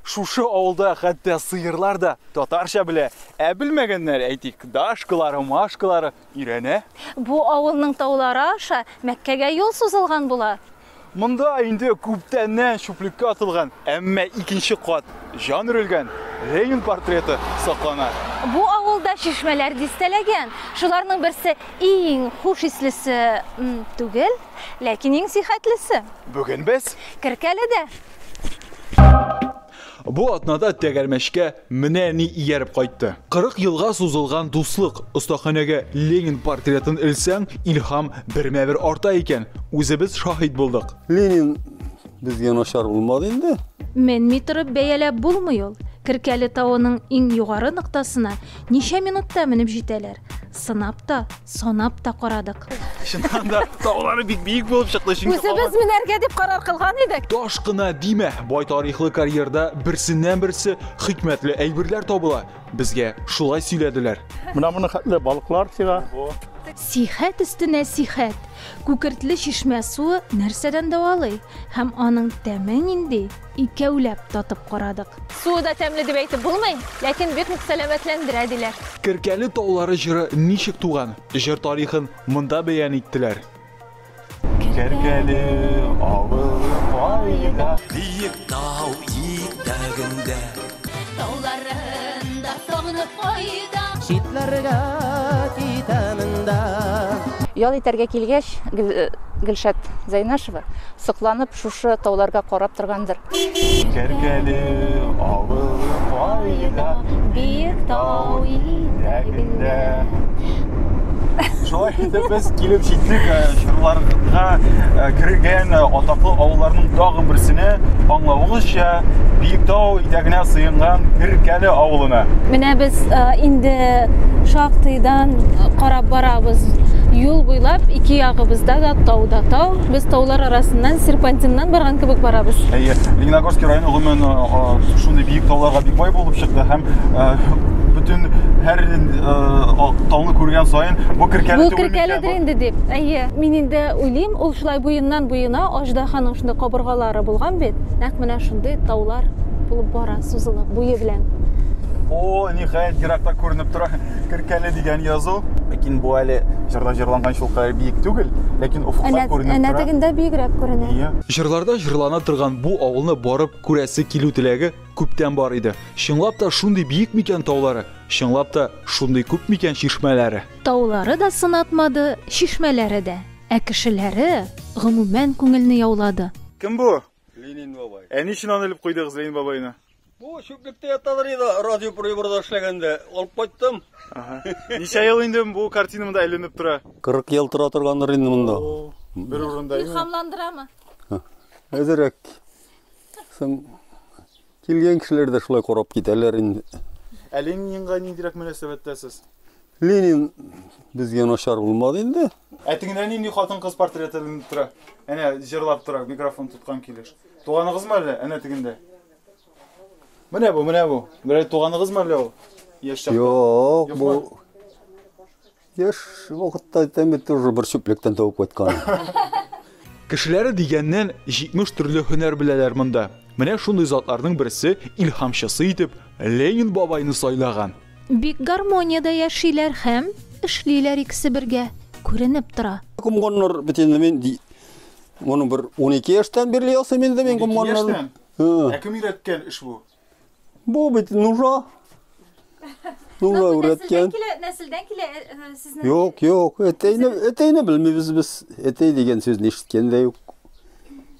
Шушы авылда хәтта сыерлар да татарча белә. Ә белмәгәннәр, әйтик, дашкалары, машкалары өйрәнә. Бу авылның таулары аша Мәккәгә юл сузылган була. Монда инде күптәннән чүплеккә атылган, әмма икенче кат җан өрелгән Ленин портреты саклана. Бу авылда чишмәләр дистәләгән. Шуларның берсе иң хуш ислесе түгел. Ләкин иң сихәтлесе. Бүген без. Керкәледә. Бу атнада тәгәрмәчкә менә ни ияреп кайтты. 40 елга сузылган дуслык. Остаханәгә Ленин портретын элсәң, илһам бермә-бер арта икән. Үзебез шаһит булдык. Ленин безгә начар булмады инде. Менми торып бәяләп булмый ул. Керкәле тавының иң югары ноктасына ничә минутта менеп җитәләр? Сынап та, Санап та карадык. Чыннан да таулары бик биек булып чыкты, чөнки Үзебез менәргә дип карар кылган идек. Таш кына димә, бай тарихлы карьерда берсеннән-берсе хикмәтле әйберләр табыла. Безгә шулай сөйләделәр. Менә моны хәтле балыклар чыга. Сихәт өстенә сихәт. Күкертле чишмә суы нәрсәдән дәвалый һәм аның тәме нинди? Икәүләп татып карадык. Суы да тәмле дип әйтеп булмый, ләкин бик нык сәламәтләндерә, диләр. Керкәле таулары җыры ничек туган? Җыр тарихын монда бәян иттеләр. Керкәле авылы кайда? Биек тау итәгендә. Тауларында сагынып кайда. Читләргә китәмен дә. Ял итәргә килгәч, Гөлшат Зәйнәшева сокланып шушы тауларга карап торгандыр. Кәркәле авылы кайда? Биек таулар. Ау итәгендә. Шулай итеп без килеп җиттек э, чорларга э, кергән э, атаклы авылларның тагын берсенә, аңлавыгызча, Биектау итәгенә сыенган Керкәле авылына. Менә без инде шактыйдан карап барабыз юл буйлап ике ягыбызда да тау да тау Без таулар арасыннан серпантиннан барган кебек барабыз. Әйе, Лениногорский районы гомумән шундый биек тауларга бик бай булып чыкты һәм бөтен һәр тауны күргән саен бу керкәле Бу керкәледер инде дип. Әйе, мин инде уйлыйм, ул шулай буеннан буена аждаһаның шундый кабыргалары булган бит. Нәкъ менә шундый таулар булып бара, сузылып, буе белән. О, ниһаять, еракта күренеп тора. Киркәле дигән язу. Ләкин бу әле җырда җырланган шул кадәр биек түгел, ләкин офыкта күренеп тора. Әнә тегендә биегрәк күренә. Ие. Җырларда җырлана торган бу авылны барып күрәсе килү теләге күптән бар иде. Чынлап та шундый биек микән таулары? Чынлап та шундый күп микән чишмәләре? Таулары да сынатмады, чишмәләре дә. Ә кешеләре, гомумән, күңелне яулады. Кем бу? Ленин бабай. Ә ни өчен аны элеп куйдыгыз, Ленин бабайны? Бу чүплектә яталар иде, радиоприборда эшләгәндә. Алып кайттым. Ага. Ничә ел инде бу картина монда әйләнеп тора? 40 ел тора торгандыр инде монда. Бер урында инде. Илһамландырамы? Әзерәк. Соң килгән кешеләр дә шулай карап китәләр инде. Ә Ленинга ниндирәк мөнәсәбәттәсез? Ленин безгә начар булмады инде. Ә тегендә нинди хатын-кыз портреты тора? Әнә җырлап тора, микрофон тоткан килеш. Туганыгызмы әллә? Әнә тегендә. Менә бу, менә бу. Берәр туганыгызмы әллә ул? Яшь чакта. Юк, бу Яш вакытта әйтәме тоже бер чүплектән табып кайткан. Кешеләре дигәннән 70 төрле һөнәр беләләр монда. Менә шундый затларның берсе илһамчысы итеп Ленин бабайны сайлаган. Бик гармониядә яшиләр һәм эшлиләр икесе бергә, күренеп тора. Комганнар бөтенләй Моны бер 12 яшьтән бирле ясыйм инде мин гомманнарны. Ә кем өйрәткән эш бу? Бу бит нужа. Нужа өйрәткән. Нәселдән килә э, э, сезнең? Юк, юк, әтәйне, әтәйне белмибез без. Әтәй дигән сүзне ишеткән дә юк.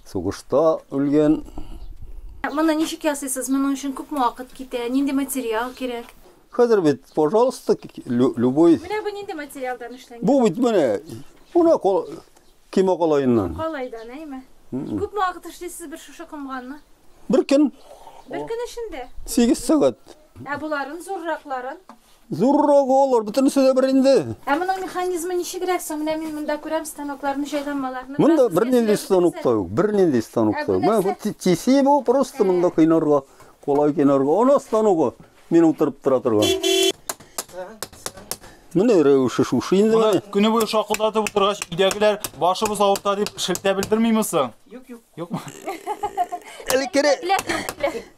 Сугышта үлгән. Моны ничек ясыйсыз? Моның өчен күпме вакыт китә? Нинди материал кирәк? Хәзер бит, пожалуйста, любой. Менә бу нинди материалдан эшләнгән? Бу бит менә. Менә Ким о калаеннан. Калайдан, әйме. Күпме вакыт эшлисез бер шушы комганны? Бер көн. Бер көн эчендә? Сигез сәгать. Ә боларын, зурракларын? Зуррагы алар, бөтенесе дә бер инде. Ә моның механизмы ничегрәк соң? Менә мин монда күрәм станокларны, җайланмаларны. Монда бернинди станок та юк, бернинди станок та юк. Менә тиси бу, просто монда кыйнарга, калай кыйнарга. Ана станогы. Мин утырып тора торган. Менә рәвеше шушы инде. Моны көне буе шакылдатып утыргач, өйдәгеләр башыбыз авырта дип шелтә белдермиме соң? Юк, юк. Юкмы? Элеккере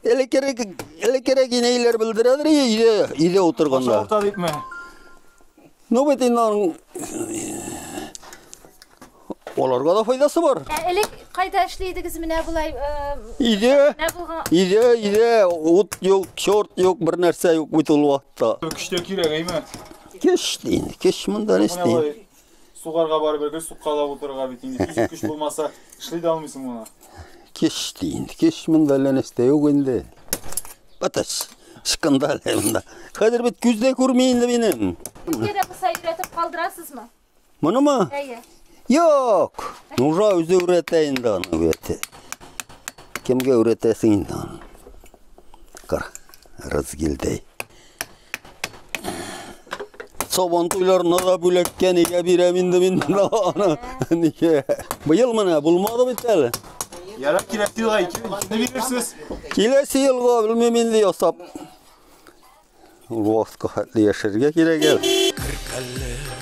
Элеккере элеккере генейләр белдерәдер өйдә, өйдә утырганда. Авырта дипме? Ну бит инде аның аларга да файдасы бар. Ә элек кайда эшли идегез менә болай? Э, иде. Менә булган. Иде, иде, ут юк, чорт юк, бер нәрсә юк бит ул вакытта. Көчтә кирәк әйме? Кеш дин, кеш монда не сти. Сугарга барып бергә суккала утырырга бит инде. Физик көч булмаса, эшли дә алмыйсың моны. Кеш дин, кеш монда не сти юк инде. Батач, шкандал монда. Хәзер бит күз дә күрми инде минем. Безгә дә кыса өйрәтеп калдырасызмы? Монымы? Әйе. Юк. Нужа үзе өйрәтә инде аны өйрәтә. Кемгә өйрәтәсең инде аны? Кара, разгилдәй. Сабан туйларына да бүләккә нигә бирәм инде мин аны? Нигә? Быел менә булмады бит әле. Яра киләсе елга икене бирерсез. Киләсе елга белмим инде ясап. Ул вакытка хәтле яшәргә кирәк әле.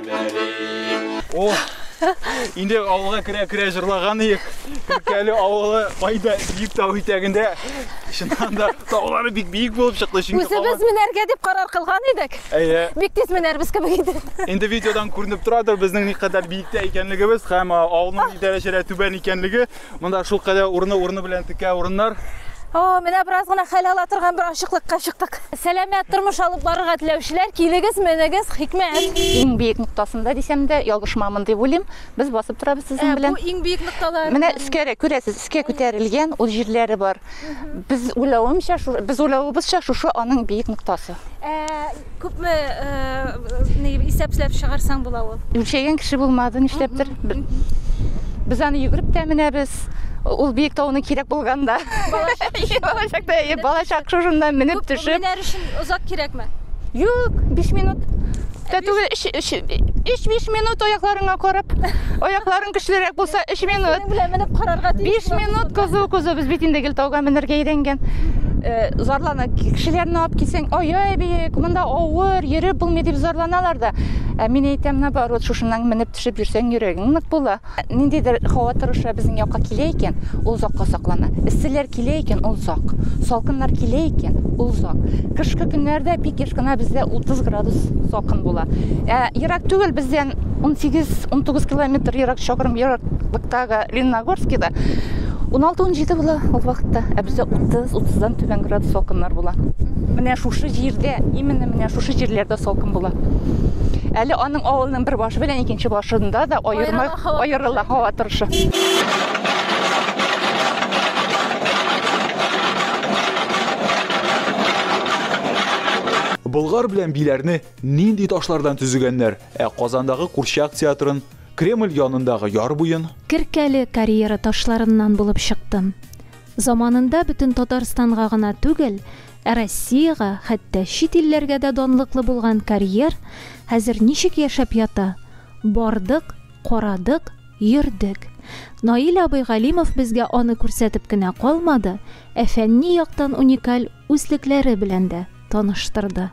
О, инде авылга керә-керә җырлаган иек. Күркәле авылы майда биек тау итәгендә. Чыннан да таулары бик биек булып чыкты. Чөнки Үзебез менәргә дип карар кылган идек. Әйе. Бик тиз менәрбез кебек иде. Инде видеодан күренеп торадыр безнең никадәр биектә икәнлегебез һәм авылның ни дәрәҗәдә түбән икәнлеге. Монда шул кадәр урыны-урыны белән текә урыннар. О, менә бераз гына хәл ала торган бер ачыклыкка чыктык. Сәламәт тормыш алып барырга теләүчеләр, килегез, менегез, хикмәт. Иң биек ноктасында дисәм дә ялгышмамын дип уйлыйм. Без басып торабыз сезнең белән. Ә бу иң биек нокталар. Менә өскәрәк күрәсез, өскә күтәрелгән ул җирләре бар. Без уйлавымча, без уйлавыбызча шушы аның биек ноктасы. Ә Күпме исәпләп чыгарсаң була ул? Үлчәгән кеше булмады, нишләптер. Без аны йөгереп тә менәбез. Ул биек тауны кирәк булганда. Балачакта, балачак шушыннан менеп төшеп. Менәр өчен озак кирәкме? Юк, 5 минут. Тә түгел, 3-5 минут аякларыңа карап. Аякларың көчлерәк булса, 3 минут. Белән менеп карарга тиеш. 5 минут кызу кызу без бит инде гел тауга менергә өйрәнгән. Зарлар Ана кешеләрне алып килсәң, ай-ай, биек, монда авыр, йөреп булмый дип зарланалар да. Ә мин әйтәм, наоборот, шушыннан менеп төшеп йөрсәң, йөрәгең нык була. Ниндидер һава торышы безнең якка килә икән, ул озакка саклана. Эсселәр килә икән, ул озак. Салкыннар килә икән, ул озак. Кышкы көннәрдә бик еш кына бездә 30 градус салкын була. Ә ерак түгел бездән 18-19 километр ерак чакрым ераклыктагы Лениногорскида 16-17 була ул вакытта, ә бездә 30-30дан түбән градус салкыннар була. Менә шушы җирдә, именно менә шушы җирләрдә салкын була. Әле аның авылының бер башы белән икенче башында да аерма аерыла һава торышы. Болгар белән биләрне нинди ташлардан төзегәннәр? Ә Казандагы курчак театрын Кремль янындагы яр буен. Керкәле карьера ташларыннан булып чыктым. Заманында бөтен Татарстанга гына түгел, ә Россиягә, хәтта чит илләргә дә данлыклы булган карьер хәзер ничек яшәп ята? Бардык, карадык, йөрдек. Наил абый Галимов безгә аны күрсәтеп кенә калмады, ә фәнни яктан уникаль үзлекләре белән дә таныштырды.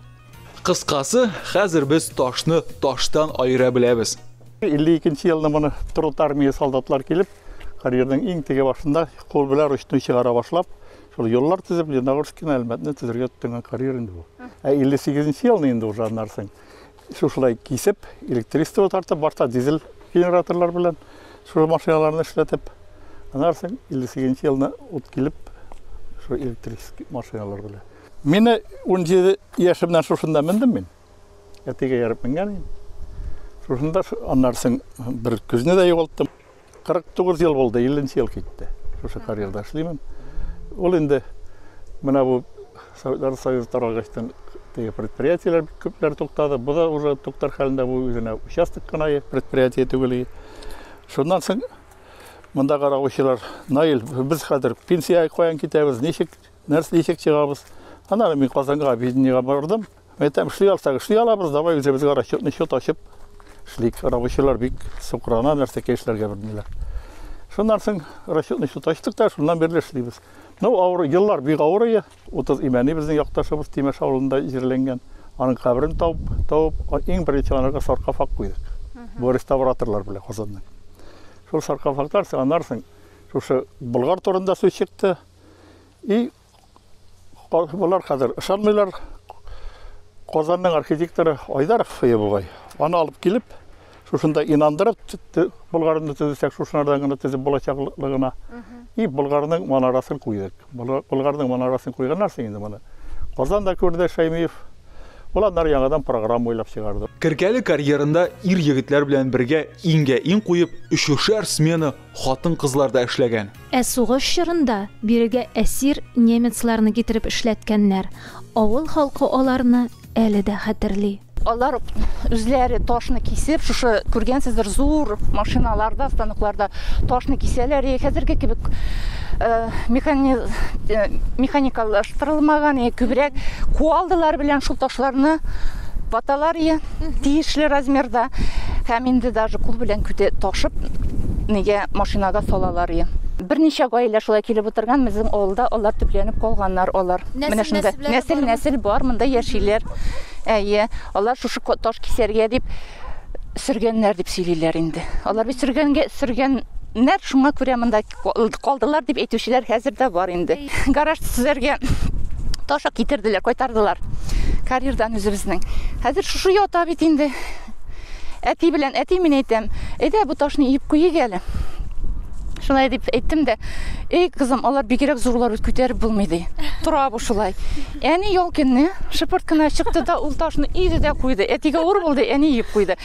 Кыскасы, хәзер без ташны таштан аера беләбез. 52 елны моны труд армия солдатлар килеп, карьерның иң теге башында кул белән ручной чыгара башлап, шул юллар төзеп, Леногорскине, Әлмәтне төзергә тотынган карьер инде бу. Ә 58 елны инде уже аннарсың. Шушылай кисеп, электричество тартып, башта дизель генераторлар белән шул машиналарны эшләтеп, аннарсың 58 елны ут килеп, шул электрический машиналар белән. Менә унҗиде яшемнән шушында мендем мин. Әтигә ярып менгән идем. Шушында аннарсын бер көзне дә югалттым. 49 ел булды, 50 нче ел китте. Шушы карьерда эшлимен. Ул инде менә бу Советлар Союзы таралгачтан теге предприятиеләр бик күпләр туктады. Бу да уже туктар хәлендә бу үзенә участок кына предприятие түгел. Шуннан соң монда каравылчылар Наил, без хәзер пенсия каян китәбез, ничек Нәрсә дисек чыгабыз. Аннары мин Казанга объединениегә бардым. Әйтәм, эшли алсак, эшли алабыз, давай үзебезгә расчетный счет ачып эшлик. Рабочийлар бик сукрана, нәрсәкә эшләргә белмиләр. Шуннан соң расчетный счет ачтык та, шуннан бирле эшлибез. Ну, авыр, еллар бик авыр ие. 30 имәни безнең якташыбыз Тимеш авылында җирләнгән. Аның каберен табып, табып, иң беренче анарга саркофаг куйдык. Бу реставраторлар белән Казанның. Шул саркофагтар, аннары шушы Болгар турында сүз чыкты. И болар хәзер ышанмыйлар. Казанның архитекторы Айдаров фые бугай. Аны алып килеп, шушында инандырып, Болгарны төзесәк, шушынардан гына төзеп булачаклыгына. И Болгарның манарасын куйдык. Болгарның манарасын куйганнар соң инде моны. Казан да күрде Шәймиев. Ул аннары яңадан программа уйлап чыгарды. Керкәле карьерында ир-егетләр белән бергә иңгә-иң куеп, өчешәр смена Хатын-кызлар да эшләгән. Ә сугыш чорында бирегә әсир немецларны китереп эшләткәннәр. Авыл халкы аларны әле дә хәтерли. Алар үзләре ташны кисеп, шушы күргәнсездер, зур машиналарда, станокларда ташны кисәләр. И хәзерге кебек механи... механикалаштырылмаган, и күбрәк куалдылар белән шул ташларны ваталар. И тиешле размерда һәм инде даже кул белән күтә ташып нигә машинага салалар и берничә гаилә шулай килеп утырган безнең авылда алар төпләнеп калганнар алар менә шунда нәсел нәсел бар монда яшиләр әйе алар шушы таш кисәргә дип сөргәннәр дип сөйлиләр инде алар бит сөргәнгә сөргән нәр шуңа күрә монда Калдылар дип әйтүчеләр хәзер дә бар инде. Гараж төзергә ташак китерделәр, кайтардылар. Карьердан үзебезнең. Хәзер шушы ята бит инде. Әти белән әти мин әйтәм, әйдә бу ташны иеп куйыйк әле. Шулай дип әйттем дә, эй кызым, алар бигрәк зурлар бит күтәреп булмый ди. Тора бу шулай. Әни ял көнне шыпырт кына чыкты да ул ташны иде дә куйды. Әтигә ур булды, әни иеп куйды.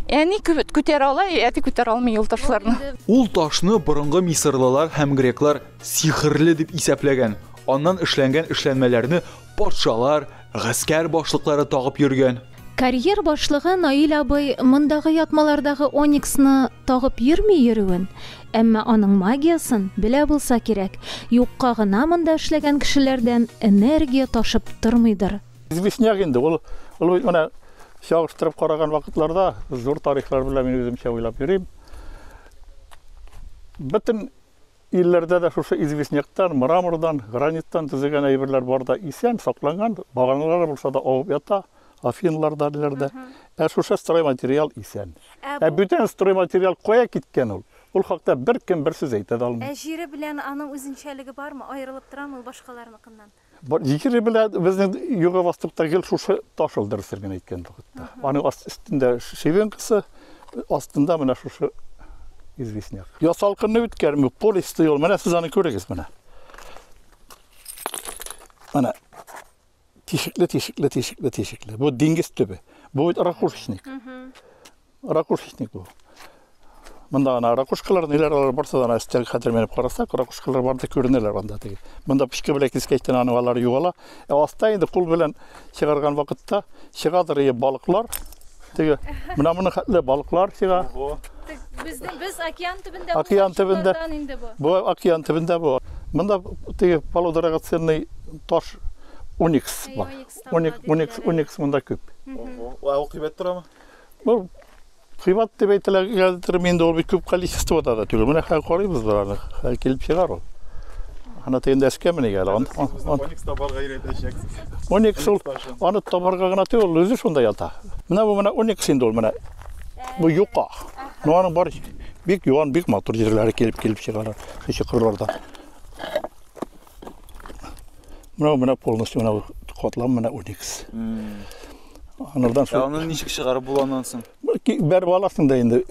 Әни күтәрә ала, әти күтәрә алмый ул ташларны. Ул ташны борынгы мисырлылар һәм греклар сихерле дип исәпләгән, аннан эшләнгән эшләнмәләрне патшалар, гаскәр башлыклары тагып йөргән. Карьер башлыгы Наил абый мондагы ятмалардагы ониксны тагып йөрми йөрүен, әмма аның магиясен белә булса кирәк, юкка гына монда эшләгән кешеләрдән энергия ташып тормыйдыр. Известняк инде, ул, ул бит менә чагыштырып караган вакытларда зур тарихлар белән мин үземчә уйлап йөрим. Бөтен илләрдә дә шушы известняктан, мрамордан, граниттан төзегән әйберләр бар да исән, сакланган, баганалар булса да авып ята, афинларда, ниләрдә. Ә шушы стройматериал исән. Ә, ә бүтән стройматериал кая киткән ул? Ул хакта беркем бер сүз әйтә дә алмый. Ә җире белән аның үзенчәлеге бармы? Аерылып торамы ул башкаларныкыннан? Җикере белән безнең юга бастыкта гел шушы таш ул дөресен генә әйткәндә. Аның өстендә шивенкасы, астында менә шушы известняк. Ясалкынны үткәрми, полисты юл. Менә сез аны күрегез менә. Менә тишекле, тишекле, тишекле, тишекле. Бу диңгез төбе. Бу бит ракушечник. Ракушечник бу. Монда ана ракушкалар, ниләр алар барса да өстәге хәтер менеп карасак, ракушкалар бар да күренәләр анда теге. Монда пичке белән кискәчтән аны алар югала. Ә аста инде кул белән чыгарган вакытта чыгадыр ие балыклар. Теге менә моны хәтле балыклар чыга. Безнең без океан төбендә. Океан төбендә. Бу океан төбендә бу. Монда теге полудрагоценный таш уникс бар. Уникс, уникс, уникс монда күп. Ого. Ә ул кыйбат торамы? Бу кыйбат дип әйтелгәндер инде ул бик күп количествода да түгел. Менә хәзер карыйбыз бараны. Хәзер килеп чыгар ул. Ана тегендә эшкә менә әле. Ан, ан, ан. Оникс табарга өйрәтәчәксез. Оникс ул аны табарга гына түгел, ул үзе шунда ята. Менә бу менә оникс инде ул менә. Бу юка. Ну аның бар бик юан, бик матур җирләре килеп килеп чыгар. Кече кырларда. Мына мына полностью мына катлам мына уникс. Анардан соң. Аны ничек чыгарып була аннан соң? Бәреп аласың да инде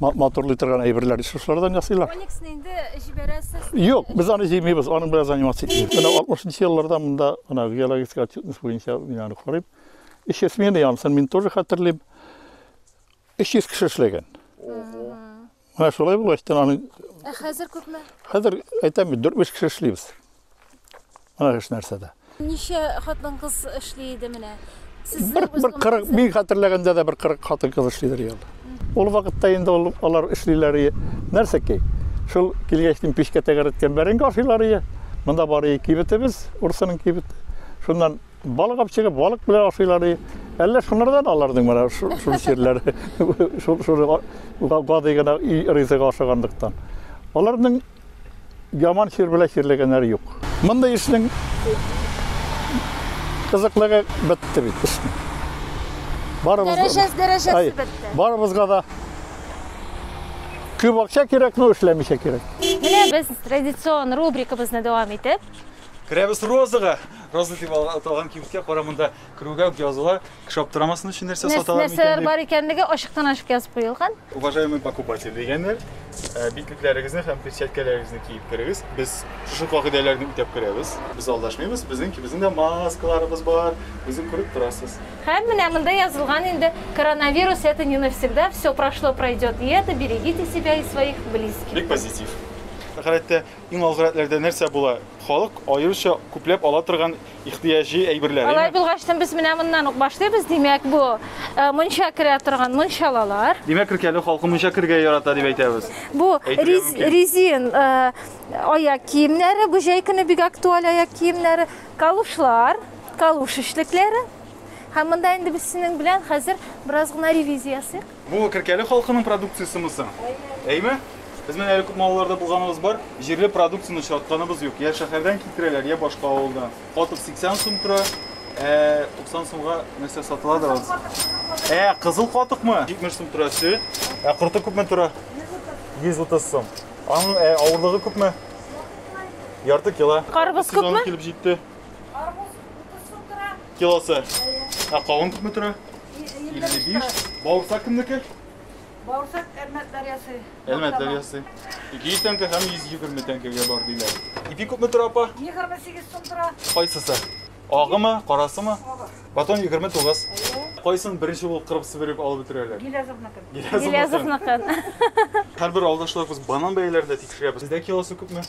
моторлый торган әйберләр шушылардан ясыйлар. Ониксны инде җибәрәсез. Юк, без аны җыймыйбыз, аның белән заниматься итмибез. Менә 60 елларда монда мына геологический отчетность буенча мин аны карыйм. Эш смены янысын мин тоже хәтерлим. 300 кеше эшләгән. Менә шулай булган стенаны. Ә хәзер күпме? Хәзер әйтәм бит, 4-5 кеше эшлибез. Менә эш нәрсәдә. Ничә хатын кыз эшли иде менә? Бер 40, мин хәтерләгәндә дә бер 40 хатын кыз эшлидер ел. Ул вакытта инде ул алар эшлиләр иде. Нәрсә ки? Шул килгәч дин пешкә тәгәрәткән бәрәңге ашыйлар иде. Монда бары кибетебез, урсының кибет. Шуннан Балык алып чыгып, балык белән ашыйлар ди. Әллә шуннардан аларның менә шул чирләр, шул шул гади генә ризык ашаганлыктан. Аларның яман чир белән чирләгәннәре юк. Мондый эшнең кызыклыгы бетте бит эшне. Барыбыз дәрәҗәсе дәрәҗәсе бетте. Барыбызга да күп акча кирәк, но эшләмичә кирәк. Менә без традицион рубрикабызны дәвам итеп. Керәбез розага. Роза дип аталган кибеткә кара монда керүгә үк языла. Кеше аптырамасын өчен нәрсә саталар микән? Нәрсәләр бар икәнлеге ачыктан ачык язып куелган. Уважаемый покупатель дигәннәр, э, битлекләрегезне һәм перчаткаларыгызны киеп керегез. Без шушы кагыйдәләрне үтәп керәбез. Без алдашмыйбыз. Безнең безнең дә маскаларыбыз бар. Үзең күреп торасыз. Һәм менә монда язылган инде коронавирус это не навсегда, все прошло, пройдет и это, берегите себя и своих близких. Бик позитив. Хәләттә Иң алгы рәтләрдә нәрсә була? Халык аеруча күпләп ала торган ихтыяҗи әйберләр. Алай булгач, без менә моннан ук башлыйбыз. Димәк, бу мунча керә торган мунчалалар. Димәк, Ркәле халкы мунча керергә ярата дип әйтәбез. Бу резин аяк киемнәре, бу җәй көне бик актуаль аяк киемнәре, калушлар, калуш эшлекләре. Һәм монда инде без синең белән хәзер бераз гына ревизия ясыйк. Бу Керкәле халкының продукциясеме соң? Әйме? Без менә әле күп малларда булганыбыз бар, җирле продукцияне очратканыбыз юк. Я шәһәрдән китерәләр, я башка авылдан. Катык 80 сум тора, ә 90 сумга нәрсә сатыла да аз. Ә, кызыл катыкмы? 70 сум тора сөт. Ә корты күпме тора? 130 сум. Аның ә, авырлыгы күпме? Ярты кило. Карбыз Сезоны күпме? килеп җитте. Карбыз 30 сум тора. Килосы. Ә кавын күпме тора? 55. Бауырсак кемнеке? Бауырсак Әлмәт дәрьясы. Әлмәт дәрьясы. 200 тәңкә һәм 120 тәңкәгә бар диләр. Ипи күпме тора апа? 28 сум тора. Кайсысы? Агымы, карасымы? Агы. Батон 29. Кайсын беренче булып кырып сибереп алып бетерәләр? Гилязовныкын. Гилязовныкын. Һәрбер авылдашларыбыз банан бәяләрен дә тикшерәбез. Сездә килосы күпме?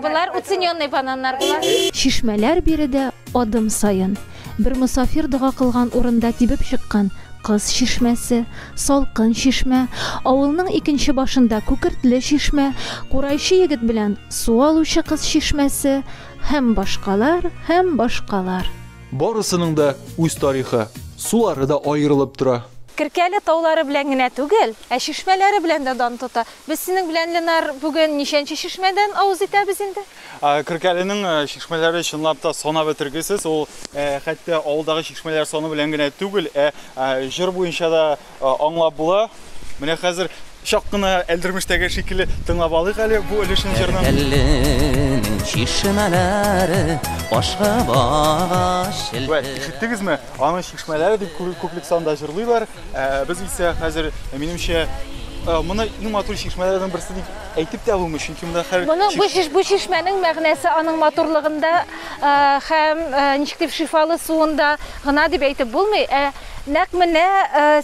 Болар уцененный бананнар болар. Чишмәләр биредә адым саен. Бер мосафир дога кылган урында тибеп чыккан Кыз чишмәсе, Салкын чишмә, авылның икенче башында Күкертле чишмә, Курайчы егет белән су алучы кыз чишмәсе һәм башкалар, һәм башкалар. Барысының да үз тарихы, сулары да аерылып тора. Керкәле таулары белән генә түгел, ә чишмәләре белән дә дан тота. Без синең белән, Ленар, бүген ничәнче чишмәдән авыз итәбез инде? Керкәленең чишмәләре чынлап та санап бетергесез. Ул хәтта авылдагы чишмәләр саны белән генә түгел, ә җыр буенча да аңлап була. Менә хәзер чак кына әлдермештәге шикелле тыңлап алыйк әле бу өлешне җырны. Әлләнең чишмәләре башка багаш. Вә, ишеттегезме? Аның чишмәләре дип күплек санда җырлыйлар. Ә, без исә хәзер, минемчә, моны иң матур чишмәләрнең берсе дип әйтеп тә булмый, чөнки монда хәр Моны бу чиш бу чишмәнең мәгънәсе аның матурлыгында һәм ничек дип шифалы суында гына дип әйтеп булмый, ә Нәкъ менә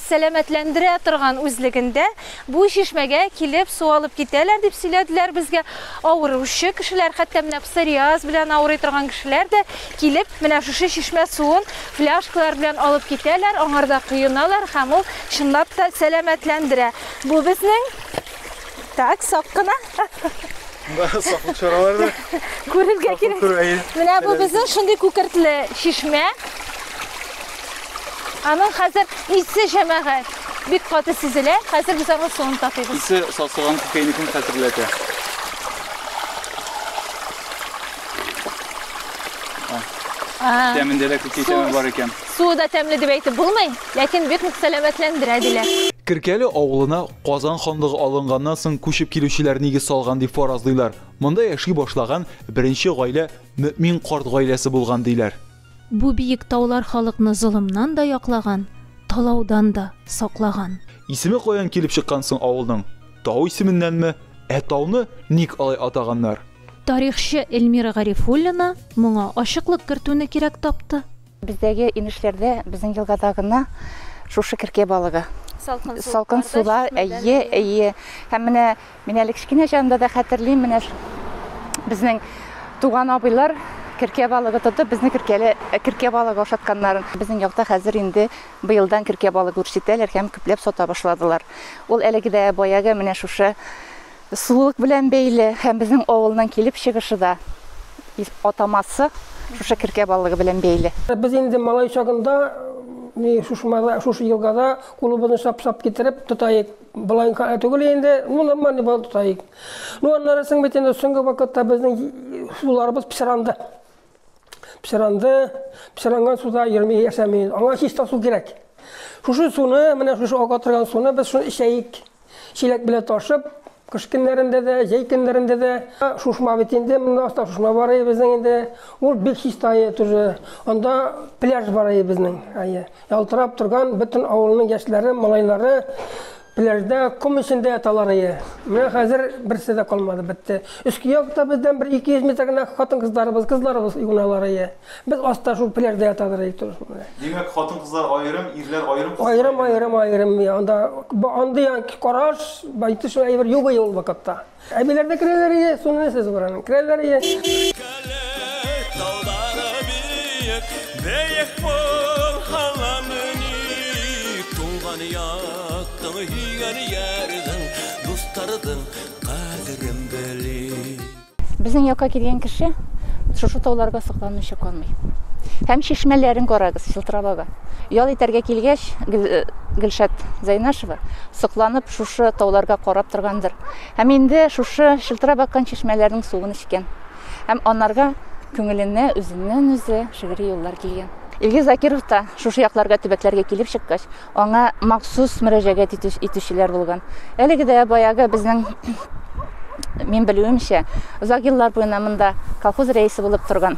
сәламәтләндерә торган үзлегендә бу чишмәгә килеп су алып китәләр, дип сөйләделәр безгә. Авыручы кешеләр, хәтта менә псориаз белән авырый торган кешеләр дә килеп, менә шушы чишмә суын фляжкалар белән алып китәләр, аңарда коеналар һәм ул чынлап та сәламәтләндерә. Бу безнең. Так, сак кына. Саклык чаралары. Күрергә кирәк. Менә бу безнең шундый күкертле чишмә. Аның хәзер исе җәмәгать бик каты сизелә. Хәзер без аның суын татыйбыз. Исе сасыган күкәйнекне хәтерләтә. Тәмендә дә күкәй тәме бар икән. Суы да тәмле дип әйтеп булмый, ләкин бик нык сәламәтләндерә, диләр. Керкәле авылына Казан ханлыгы алынганнан соң күчеп килүчеләр нигез салган дип фаразлыйлар. Монда яши башлаган беренче гаилә Мөэмин карт гаиләсе булган, диләр. Бу биек таулар халыкны золымнан да яклаган, талаудан да саклаган. Исеме каян килеп чыккан соң авылның? Тау исеменнәнме? Ә тауны ник алай атаганнар? Тарихчы Эльмира Гарифуллина моңа ачыклык кертүне кирәк тапты. Бездәге инешләрдә, безнең елгада гына шушы керкә балыгы. Салкын сулар, әйе, әйе. Һәм менә мин әле кечкенә чагымда да хәтерлим, менә безнең туган абыйлар керкә балыгы тотып, безне керкәле керкә балыгы ашатканнарын. Безнең якта хәзер инде быелдан керкә балыгы үрчетәләр һәм күпләп сата башладылар. Ул әлеге дә баягы менә шушы Сулык белән бәйле һәм безнең авылның килеп чыгышы да, атамасы шушы керкә балыгы белән бәйле. Без инде малай чагында ни шушмада, шушы елгада кулыбызны шап-шап китереп тотаек. Былайка түгел инде, ну нормально бал тотаек. Ну аннары соң бит инде соңгы вакытта безнең суларыбыз псиранды. Псиранды, псиранган суда йөрми яшәмиз. Аңа чиста су кирәк. Шушы суны, менә шушы ага торган суны без шуны эчәек. Чиләк белән ташып, кыш көннәрендә дә, җәй көннәрендә дә. Шушма бит инде, монда аста шушма бар ие безнең инде. Ул бик чиста ие тоже. Анда пляж бар ие безнең. Ие. Ялтырап торган бөтен авылның яшьләре, малайлары пляжда ком эчендә яталар ие. Менә хәзер берсе дә калмады, бетте. Өске якта бездән бер 200 метр генә хатын-кызларыбыз, кызларыбыз юыналар ие. Без аста шул пеләрдә ятадыр әйтү шул менә. Димәк, хатын-кызлар аерым, ирләр аерым. Аерым, аерым, аерым. Анда андый караш, байтыш әйбер юк иде ул вакытта. Әбиләр дә керәләр иде, суны сез баран. Керәләр иде. Бәек бор халамыни, туңган яттың, һигән ярдың, дустардың кадерен бели. Безнең якка килгән кеше шушы тауларга сокланмыйча калмый. Һәм чишмәләрен карагыз, Чылтырабага. Ял итәргә килгәч, э, Гөлшат Зайнашева сокланып шушы тауларга карап торгандыр. Һәм инде шушы Чылтырап аккан чишмәләрнең суын эчкән. Һәм анарга күңеленә үзеннән-үзе шигъри юллар килгән. Илгиз Закиров та шушы якларга төбәкләргә килеп чыккач, Аңа махсус мөрәҗәгать итүчеләр булган. Әлеге дә баягы безнең мин белүемчә, озак еллар буена монда колхоз рәисе булып торган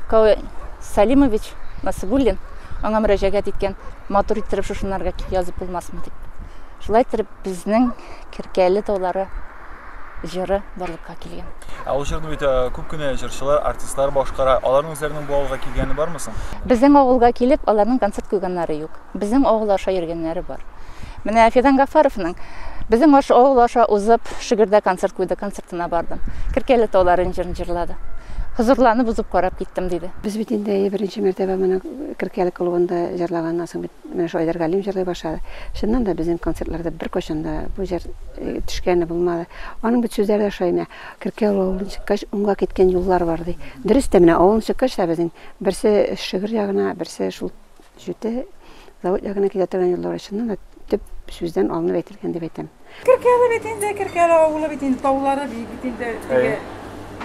Каве Салимович Насыбуллин аңа мөрәҗәгать иткән, матур иттереп шушынарга язып булмасмы дип. Шулай иттереп безнең Керкәле таулары җыры барлыкка килгән. Ә ул җырны бит э, күп кенә җырчылар, артистлар башкара. Аларның үзләренең бу авылга килгәне бармы соң? Безнең авылга килеп, аларның концерт куйганнары юк. Безнең авыл аша йөргәннәре бар. Менә Фидан Гафаровның безнең аша авыл аша узып, Шигердә концерт куйды, концертына бардым. Киркәле тауларын җырын җырлады. Хозурланып узып карап киттем, диде. Без бит инде әйе беренче мәртәбә моны Киркәле клубында җырлаганнан соң бит Менә шулай Айдар Галим җырлый башлады. Чыннан да, безнең концертларда беркайчан да бу җыр төшкәне булмады. Аның бит сүзләре дә шулай, менә, Керкәвел авылын чыккач, уңга киткән юллар бар, ди. Дөрес тә, менә авылны чыккач та безнең берсе Шөгер ягына, берсе шул Җүте, Завод ягына китә торган юллар, чыннан да, төп сүздән алынып әйтелгән дип әйтәм. Керкәле бит инде, Керкәле авылы бит инде, таулары бит бит инде. Әйе. Теге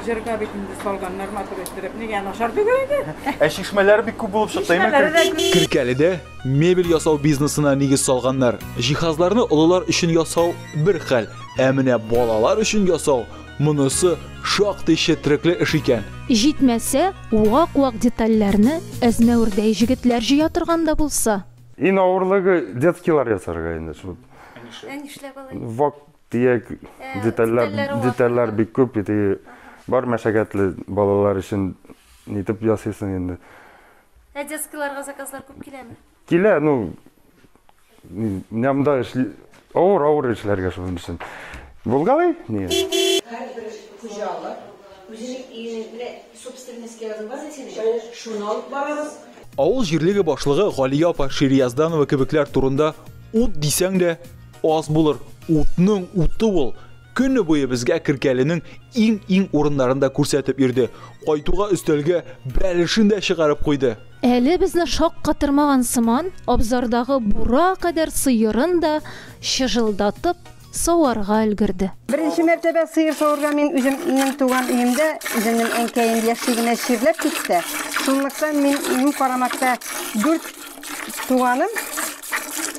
җырга бит инде салганнар матур иттереп. Нигә начар түгел инде? Ә чишмәләр бик күп булып чыкты, әйме? Чишмәләре дә Кер- күп. Керкәледә мебель ясау бизнесына нигез салганнар. Җиһазларны олылар өчен ясау бер хәл, ә менә балалар өчен ясау, монысы шактый четрекле эш икән. Җитмәсә, вак-вак детальләрне әзмәвердәй җегетләр җыя торган да булса? Иң авырлыгы детскийлар ясарга инде шул. Ә нишләп? Ә нишләп алай? Вак тияк Ә, детальләр, детальләре вак. детальләр бик күп бит. и Бар мәшәкатьле балалар өчен нитеп ясыйсың инде. Ә детскийларга заказлар күп киләме? Килә, ну, ни- нямда эшли... Авыр, авыр эшләргә шуның өчен. Булгалый? Нет. Һәрбер хуҗалык үзенең өенең менә Собственный скверы бар икән, шуны алып барабыз. Авыл җирлеге башлыгы Галия апа Шириязданова кебекләр турында ут дисәң дә аз булыр. Утның уты ул. Көне буе безгә Керкәленең иң-иң урыннарын да күрсәтеп йөрде. Кайтуга өстәлгә бәлешен дә чыгарып куйды. Әле безне шаккатырмаган сыман, абзардагы бура кадәр сыерын да чыжылдатып саварга өлгерде. Беренче мәртәбә сыер савырга мин үземнең туган өемдә, үземнең әнкәем яшьлегенә чирләп китте. Шунлыктан минем карамакта дүрт туганым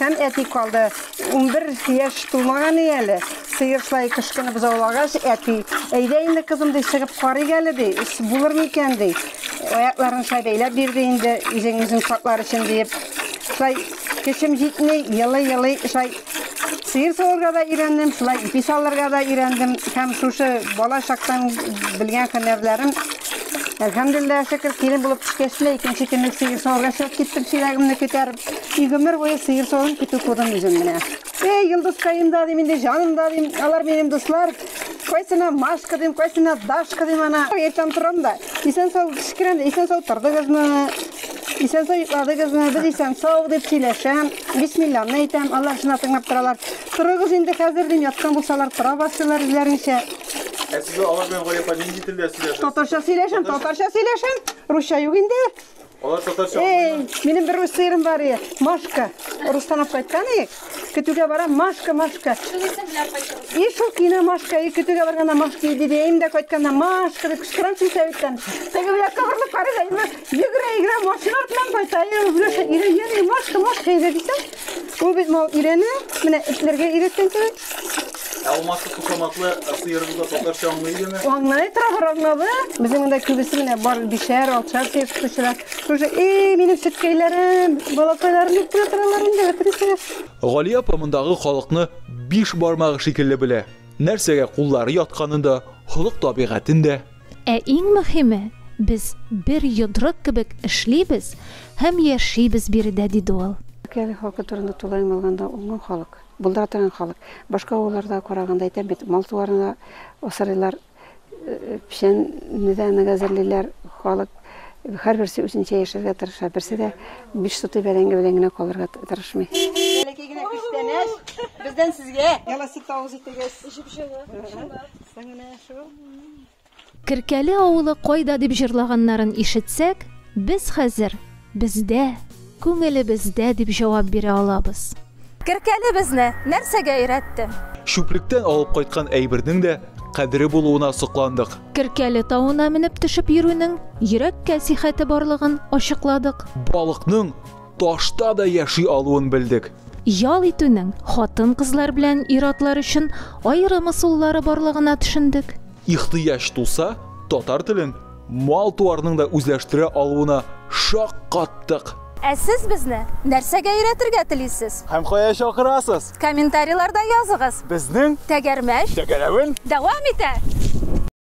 һәм әти калды. Унбер яшь тулмаган иде әле. Сыер шулай кычкынып бозаулагач, әти, әйдә инде, кызым, ди, чыгып карыйк әле, ди, булырмы икән, ди. Аякларын шулай бәйләп бирде инде, үзең үзең саклар өчен диеп. Шулай Көчем җитми, елый-елый шулай сыер савырга да өйрәндем, шулай ипи салырга да өйрәндем. Һәм шушы бала чактан белгән һөнәрләрем Әлхәмдулилла, шөкер, килен булып төшкәч тә икенче көнне сыер савырга чыгып киттем, чиләгемне күтәреп. И гомер буе сыер савым көтү күрдем үзем менә. Эй, Йолдызкаем да дим инде, җаным да дим, алар минем дуслар. Кайсына Машка дим, кайсына Дашка дим ана. Иртән торам да, исән сау кичкерәм дә, исән сау тордыгызмы? Исән сау йокладыгызмы? Без исән сау дип сөйләшәм. Бисмилланы әйтәм, алар шуна тыңлап торалар. Торыгыз инде хәзер дим, яткан булсалар тора башлыйлар үзләренчә. Ә сез алар белән гаепа нинди телдә сөйләшәсез? Татарча сөйләшәм, татарча сөйләшәм. Русча юк инде. Алар татарча Эй, минем бер үз сыерым бар ие. Машка. Урыстан алып кайткан ие. Көтүгә барам, Машка, Машка. И шул кино Машка, и көтүгә барганда Машка ие диде. Им дә кайтканда Машка дип кычкырам син сәвиттән. Теге бу якка борылып карый да, имә, йөгерә, йөгерә, машина артыннан кайта. Ие, Леша, ире, йөри, Машка, Машка ие дисәм, Ул бит мал өйрәнә, менә эшләргә өйрәткән кебек. Ә алмашлы кушаматлы сыерыбыз да татарча аңлый идеме? Аңлый тора бер аңлавы. Безнең монда күбесе менә бар бишәр, алчар сыер тотучылар. Уже эй, минем сөткәйләрем, балакайларым дип кенә торалар инде, бетересегез. Гали апа мондагы халыкны биш бармагы шикелле белә. Нәрсәгә куллары ятканын да, холык-табигатен дә. Ә иң мөһиме, без бер йодрык кебек эшлибез һәм яшибез биредә, диде ул. Кәле халкы турында тулаем алганда, ул моң халык. Булдыра торган халык. Башка авылларда караганда, әйтәм бит, мал-туарны да асрыйлар, печәнне дә нык әзерлиләр. Халык һәрберсе үзенчә яшәргә тырыша, берсе дә биш сутый бәрәңге белән генә калырга тырышмый. Бәләкәй генә күчтәнәч бездән сезгә! Яласып тавыз итегез. Җеп-җылы, чынлап. Керкәле авылы кайда дип җырлаганнарын ишетсәк, без хәзер, бездә, күңелебездә дип җавап бирә алабыз. Керкәле безне нәрсәгә өйрәтте? Чүплектән алып кайткан әйбернең дә кадере булуына сокландык. Керкәле тавына менеп төшеп йөрүнең йөрәккә сихәте барлыгын ачыкладык. Балыкның Ташта да яши алуын белдек. Ял итүнең хатын-кызлар белән ир-атлар өчен аерым ысуллары барлыгына төшендек. Ихтыяҗ туса, татар телен мал-туарның да үзләштерә алуына шаккаттык. Ә сез безне нәрсәгә өйрәтергә телисез? Һәм кая чакырасыз? Комментарийларда языгыз. Безнең. Тәгәрмәч. Тәгәрәвен. Дәвам итә!